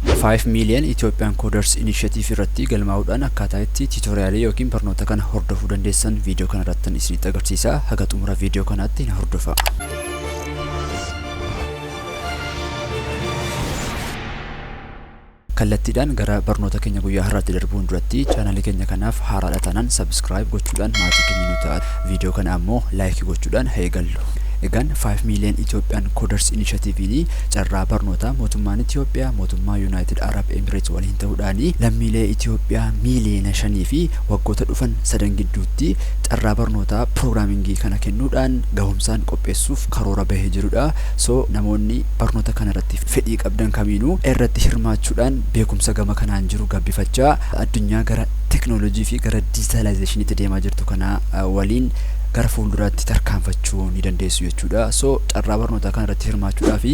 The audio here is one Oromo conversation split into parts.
Five Million Ethiopian Coders Initiative irratti galmaa'uudhaan akkaataa itti tiitoriyaalii yookiin barnoota kana hordofuu dandeessan viidiyoo kana irrattan isinitti agarsiisa. Haga xumura viidiyoo kanaatti na hordofaa. kallattiidhaan gara barnoota keenya guyyaa har'aatti darbuun duratti chaanalii keenya kanaaf haaraadha taanaan sabiskiraayib gochuudhaan maatii keenya nu ta'a viidiyoo kana ammoo laayikii gochuudhaan haa eegallu. Egaan 5 million Ethiopian Coders Initiative Carraa barnootaa mootummaan Itiyoophiyaa mootummaa Yunaayitid Arab Emireets waliin ta'uudhaan lammiilee Itiyoophiyaa miiliyoona shanii fi waggoota dhufan sadan gidduutti carraa barnootaa piroogiraamingii kana kennuudhaan gahumsaan qopheessuuf karoora bahee jirudha. So namoonni barnoota kana irratti fedhii qabdan kamiinuu irratti hirmaachuudhaan beekumsa gama kanaan jiru gabbifachaa addunyaa gara teknoolojii fi gara diijitaalaayizeeshiniitti deemaa jirtu kanaa waliin gara fuulduraatti tarkaanfachuu ni dandeessu jechuudha. jechuudha. So carraa barnootaa kana irratti hirmaachuudhaaf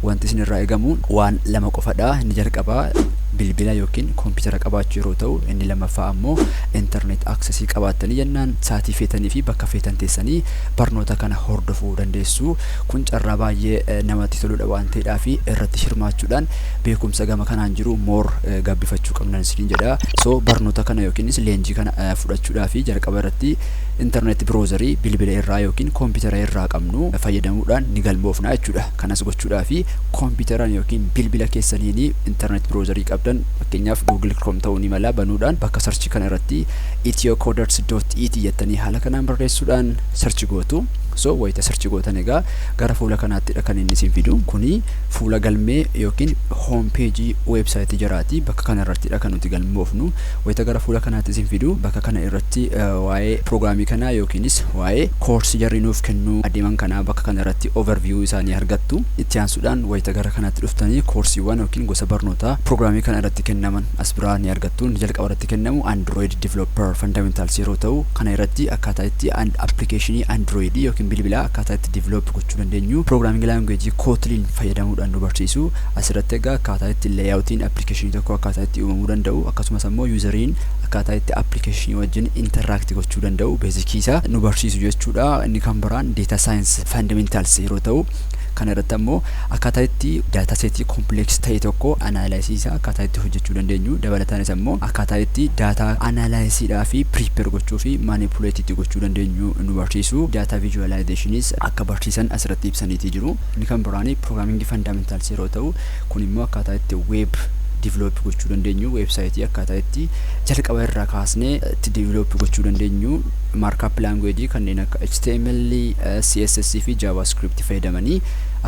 wanti isin irraa eegamu waan lama qofadha. Inni jalqabaa bilbila yookiin koompitara qabaachuu yeroo ta'u inni lammaffaa ammoo intarneet aksesii qabaattanii jennaan saatii feetanii fi bakka feetan teessanii barnoota kana hordofuu dandeessu. Kun carraa baay'ee namatti toludha waan ta'eedhaa fi irratti hirmaachuudhaan beekumsa gama kanaan jiru moor gabbifachuu qabnan isiniin jedha. So barnoota kana yookiinis leenjii kana fudhachuudhaa fi jalqaba irratti internet browser bilbila irraa yookiin koompitara irraa qabnu fayyadamuudhaan ni galmoofna jechuudha. Kanas gochuudhaaf koompitaran yookiin bilbila keessaniin internet browser qabdan fakkeenyaaf Google Chrome ta'uu ni mala banuudhaan bakka search kana irratti ethiocoderts.it jettanii haala kanaan barreessuudhaan search gootu. So wayita search gootan egaa gara fuula kanaattidha kan inni isin fidu. Kuni fuula galmee yookiin home page website jaraati. Bakka kana irrattidha kan nuti galmoofnu. Wayita gara fuula kanaatti isin fidu bakka kana irratti waa'ee prograamii kanaa yookiinis waa'ee koorsii jarri nuuf kennuu adeeman kanaa bakka kana irratti overview isaanii argattu. Itti aansuudhaan wayita gara kanaatti dhuftanii koorsiiwwan yookiin gosa barnootaa prograamii kana irratti kennaman as biraa ni argattu. Inni jalqaba irratti kennamu Android Developer Fundamentals yeroo ta'u kana irratti akkaataa itti application Android yookiin bilbilaa akkaataa itti develop gochuu dandeenyu programming language Kotlin fayyadamuudhaan nu barsiisu. Asirratti egaa akkaataa itti layout'n application tokko akkaataa itti uumamuu danda'u akkasumas ammoo user'n akkaataa itti application wajjin interact gochuu danda'u basic isaa nu barsiisu jechuudha. Inni kan biraan data science fundamentals yeroo ta'u kana irratti ammoo akkaataa itti data set complex ta'e tokko analysis isaa akkaataa itti hojjechuu dandeenyu dabalataanis ammoo akkaataa itti data analysis dhaa fi prepare gochuu fi manipulate itti gochuu dandeenyu nu barsiisu. Data visualizationis akka barsiisan asirratti ibsaniitii jiru. Inni kan biraani programming fundamentals yeroo ta'u kun immoo akkaataa itti web develop gochuu dandeenyu website akkaataa itti jalqaba irraa kaasnee itti develop gochuu dandeenyu markup language kanneen akka HTML, CSS fi JavaScript fayyadamanii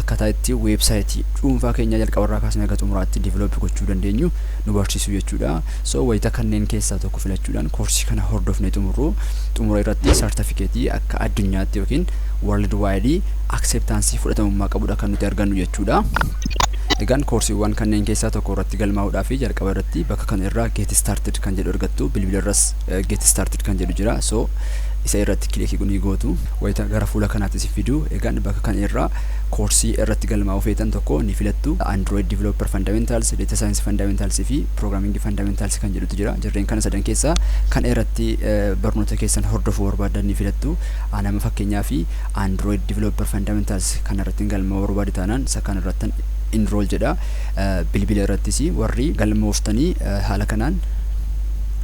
akkaataa itti website dhuunfaa keenya jalqaba irraa kaasnee hanga xumuraatti develop gochuu dandeenyu nu barsiisu jechuudha. So wayita kanneen keessaa tokko filachuudhaan koorsii kana hordofnee xumurru xumura irratti sartifikeetii akka addunyaatti yookiin world wide akseeptaansii fudhatamummaa qabudha kan nuti argannu jechuudha. Egaan koorsiiwwan kanneen keessaa tokko irratti galmaa'uudhaa fi jalqaba irratti bakka kana irraa get started kan jedhu argattu bilbila irras get started kan jedhu jira so isa irratti kilikii ni gootu wayita gara fuula kanaatti si fidu egaan bakka kana irraa koorsii irratti galmaa'uu feetan tokko ni filattu android developer fundamentals data science fundamentals fi programming fundamentals kan jedhutu jira jarreen kana sadan keessaa kan irratti barnoota keessan hordofuu barbaadan ni filattu anama fakkeenyaa fi Android Developer Fundamentals kana irratti galmaa'uu barbaadu taanaan isa kana irratti enroll jedha. Bilbila irrattis warri galmooftanii haala kanaan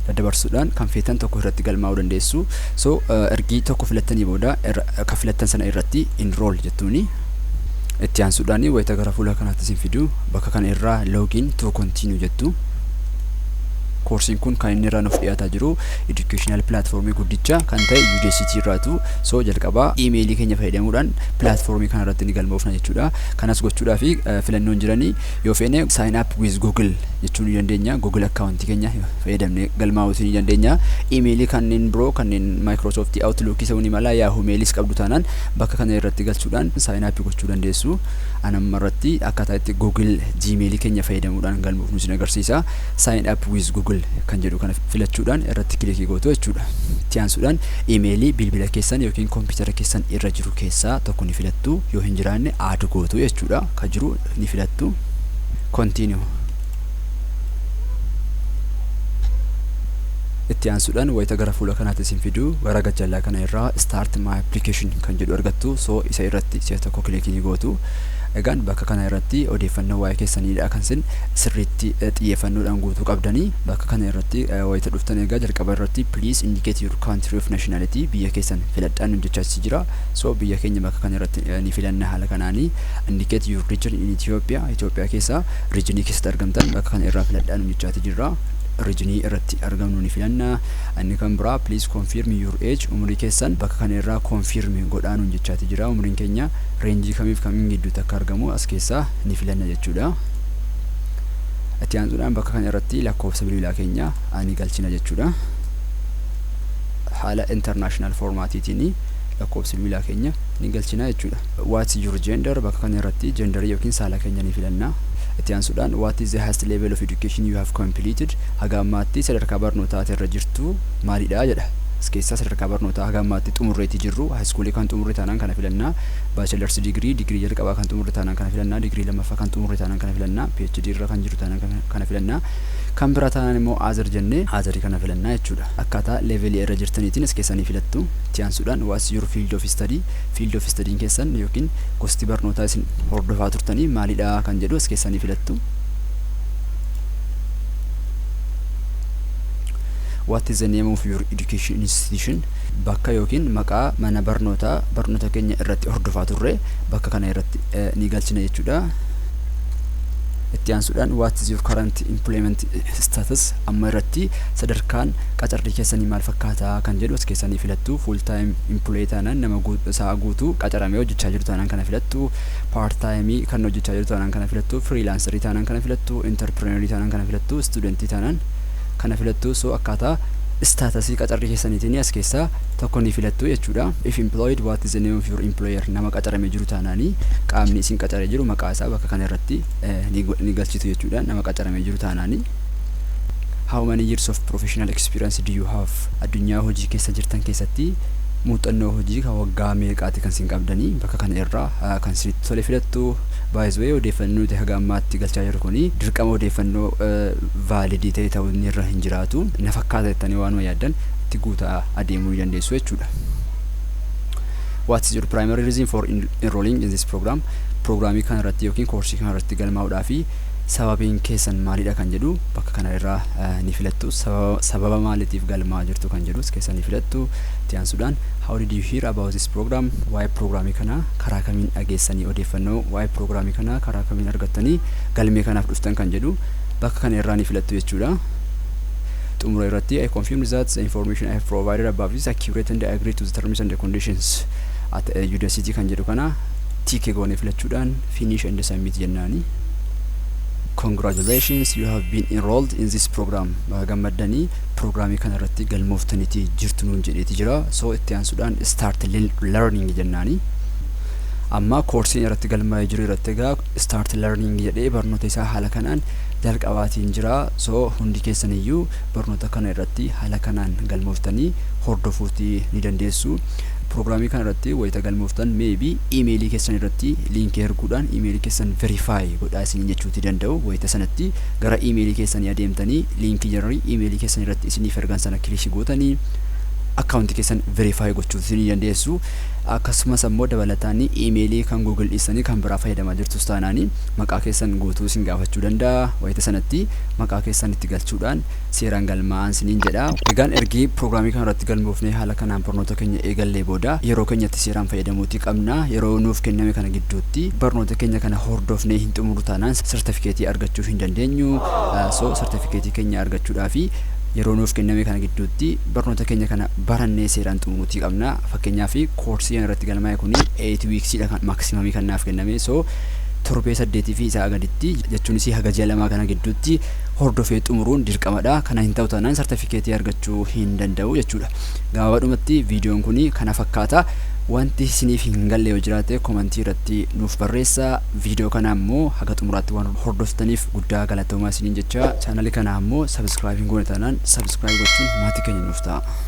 daddabarsuudhaan kan feetan tokko irratti galmaa'uu dandeessu. So ergii tokko filattanii booda kan filattan sana irratti enroll jettuuni. Itti aansuudhaan wayita gara fuula kanaatti isin fidu bakka kana irraa login to continue jettu. Koorsiin kun kan inni irraa nuuf dhiyaataa jiru educational platform guddicha kan ta'e UDCT irraatu so jalqaba email keenya fayyadamuudhaan platform kana irratti ni galmoofna jechuudha kanas gochuudhaaf filannoon jiranii yoo feene sign up with google jechuu ni dandeenya google account keenya fayyadamne galmaa'uuti ni dandeenya email kanneen biroo kanneen microsoft outlook isa ni mala yahoo mailis qabdu taanaan bakka kana irratti galchuudhaan sign up gochuu dandeessu anamma irratti akkaataa itti google gmail keenya fayyadamuudhaan galmoofnu isin agarsiisa Sign up with Google kan jedhu kana filachuudhaan irratti kilikii gootu jechuudha. Itti aansuudhaan imeelii bilbila keessan yookiin kompiitara keessan irra jiru keessaa tokko ni filattu. Yoo hin jiraanne aad gootu jechuudha. Ka jiru ni filattu. Continue. Itti aansuudhaan wayita gara fuula kanaatti isin fidu gara gajjallaa kana irraa start my application kan jedhu argattu. So isa irratti si'a tokko kilikii ni gootu. Egaan bakka kana irratti odeeffannoo waa'ee keessaniidha kan isin sirriitti xiyyeeffannoodhaan guutuu qabdanii bakka kana irratti wayita dhuftan egaa jalqaba irratti please indicate your country of nationality biyya keessan filadhaan nu jechaasi jira so biyya keenya bakka kana irratti ni filanna haala kanaanii indicate your region in Ethiopia Ethiopia keessa regionii keessatti argamtan bakka kana irraa filadhaan nu jechaati jirra regionii irratti argamnu ni filanna inni kan biraa please confirm your age umurii keessan bakka kana irraa confirm godhaan nu jechaati jira umuriin keenya reenjii kamiif kamiin gidduutti akka argamu as keessaa ni filanna jechuudha. Itti aansuudhaan bakka kana irratti lakkoofsa bilbilaa keenya ani galchina jechuudha. Haala international formaatiitiin lakkoofsa bilbilaa keenya ni galchina jechuudha. What's your gender bakka kana irratti jendarii yookiin saala keenya ni filanna. Itti aansuudhaan what is the highest level of education you have completed haga ammaatti sadarkaa barnootaa ati irra jirtu maalidha jedha. As keessaa sadarkaa barnootaa haga ammaatti xumurreeti jirru. Haayiskuulii kan xumurre taanaan kana filanna. Baachelarsi digirii, digirii jalqabaa kan xumurre taanaan kana filanna. Digirii lammaffaa kan xumurre taanaan kana filanna. PhD irra kan jiru taanaan kan- kana filanna. Kan biraa taanaan immoo other jennee other kana filanna jechuudha. Akkaataa levelii irra jirtaniitiin as keessaa ni filattu. Itti aansuudhaan what's your field of study? Field of study'n keessan yookiin gosti barnootaa isin hordofaa turtanii maalidha kan jedhu as keessaa ni filattu. What is the name of your education institution? Bakka yookiin maqaa mana barnootaa barnoota keenya irratti hordofaa turre bakka kana irratti eh, ni galchina jechuudha. Itti aansuudhaan what is your current employment status amma irratti sadarkaan qacarrii keessanii maal fakkaataa kan jedhu as keessanii filattu full time employee taanaan nama guut- sa'a guutuu qacaramee hojjechaa jiru taanaan kana filattu part time kan hojjechaa jiru taanaan kana filattu freelancerii taanaan kana filattu entrepreneurii taanaan kana filattu studentii taanaan kana filattu so akkaataa istatasii qacarrii keessaniitiin as keessaa tokko ni filattu jechuudha if employed what is the name of your employer nama qacarame jiru taanaanii qaamni isin qacare jiru maqaa isaa bakka kana irratti ni galchitu jechuudha nama qacarame jiru taanaanii how many years of professional experience do you have addunyaa hojii keessa jirtan keessatti muuxannoo hojii kan waggaa meeqaati kan isin qabdanii bakka kana irraa kan isinitti tole filattu baay'iswee odeeffannoo nuti haga ammaatti galchaa jiru kuni dirqama odeeffannoo valid ta'e ta'uu inni irra hin jiraatu na fakkaata jettanii waanuma yaaddan itti guutaa adeemuu ni dandeessu jechuudha. What is your primary reason for en- enrolling in this program? Proogiraamii kana irratti yookiin koorsii kana irratti galmaa'uudhaa fi sababiin keessan maalidha kan jedhu bakka kana irraa eh, ni filattu. Sababa, sababa maaliitiif galmaa'aa jirtu kan jedhus keessa ni filattu. Itti aansuudhaan how did you hear about this program? Waa'ee proogiraamii kana karaa kamiin dhageessanii odeeffannoo waa'ee proogiraamii kana karaa kamiin argattanii galmee kanaaf dhuftan kan jedhu bakka kana irraa ni filattu jechuudha. Xumura irratti I confirm that the information I have provided above is accurate and I agree to the terms and conditions at Udacity kan jedhu kana tick goonee filachuudhaan finish and submit jennaani. Congratulations you have been enrolled in this program. Baga gammaddanii pirogiraamii kana irratti galmooftaniiti jirtu nuun jedheeti jira. So itti aansuudhaan start learning jennaani. Amma koorsiin irratti galmaa'ee jiru irratti egaa start learning jedhee barnoota isaa haala kanaan jalqabaatiin jira so hundi keessan iyyuu barnoota kana irratti haala kanaan galmooftanii hordofuuti ni dandeessu piroogiraamii kana irratti wayita galmooftan maybe imeelii keessan irratti liinkii erguudhaan imeelii keessan verify godhaa isiniin jechuuti danda'u wayita sanatti gara imeelii keessanii adeemtanii liinkii jarri imeelii keessan irratti isiniif ergan sana kilikii gootanii akkaawuntii keessan verify gochuuti ni dandeessu Akkasumas ammoo dabalataan iimeelii kan Google dhiistanii kan biraa fayyadamaa jirtus taanaan maqaa keessan guutuu isin gaafachuu danda'a. Wayita sanatti maqaa keessan itti galchuudhaan seeraan galmaa'aan isiniin jedha. Egaan ergi piroogiraamii kana irratti galmoofnee haala kanaan barnoota keenya eegallee booda yeroo keenyatti seeraan fayyadamuutii qabna. Yeroo nuuf kenname kana gidduutti barnoota keenya kana hordofnee hin xumurru taanaan sartifikeetii argachuu hin dandeenyu. So sartifikeetii keenya argachuudhaaf yeroo nuuf kenname kana gidduutti barnoota keenya kana barannee seeraan xumuruutii qabna fakkeenyaaf koorsii irratti galmaa'e kun 8 weeks dha kan maksimamii kan naaf kenname so torbee saddeetii fi isaa gaditti jechuunis haga ji'a lamaa kana gidduutti hordofee xumuruun dirqamadha kana hin ta'u taanaan sartifikeetii argachuu hin danda'u jechuudha gabaabadhumatti viidiyoon kun kana fakkaata wanti isiniif hin galle yoo jiraate komantii irratti nuuf barreessa viidiyoo kana ammoo haga xumuraatti waan hordoftaniif guddaa galatoomaa isiniin jecha chaanalii kana ammoo sabiskiraayib hin goone taanaan sabiskiraayib gochuun maatii keenya nuuf ta'a.